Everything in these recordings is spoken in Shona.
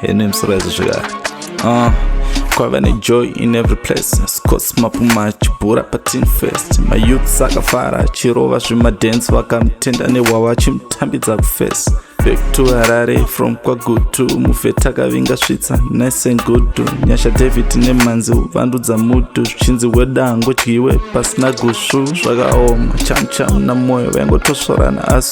hene msiraizi zvekare uh, ah, kwava nejoy in every place scos mapuma achibhura patin fest mayouths akafara achirova zvemadance vakamutenda nehwavo achimutambidza kufesi back to harare from kwagutu mufeti akavinga svitsa nice and good nyasha david nemanzi uvandudza mutu zvichinzi weda angodyiwe pasina gusvu zvakaoma chamcham namoyo vaingotosvorana asi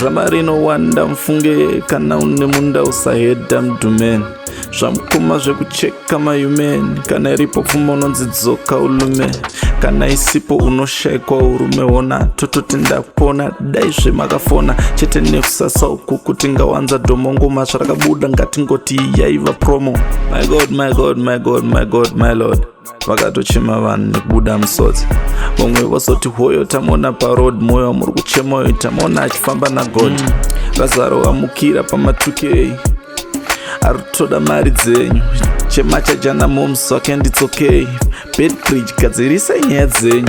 drama rinowanda mfunge kana une munda usahedha mdumeni zvamukoma zvekucheka mayumeni kana iripo pfuma unonzi dzoka ulume kana isipo unoshaikwa urume hona tototi ndakupona dai zvemakafona chete nekusasa uku kuti ngawanza dhomongoma zvarakabuda ngatingoti yaiva promo my god my god my god my god my lord vakatochema vanhu nekubuda musodzi vamwe vosoti hoyo tamona paroad moyo wamuri kuchema uyo tamona achifamba nagod mm. razaro vamukira pamatukei ari kutoda mari dzenyu chema chajana moms wake nditsokei bedbridge gadzirisai nyaya dzenyu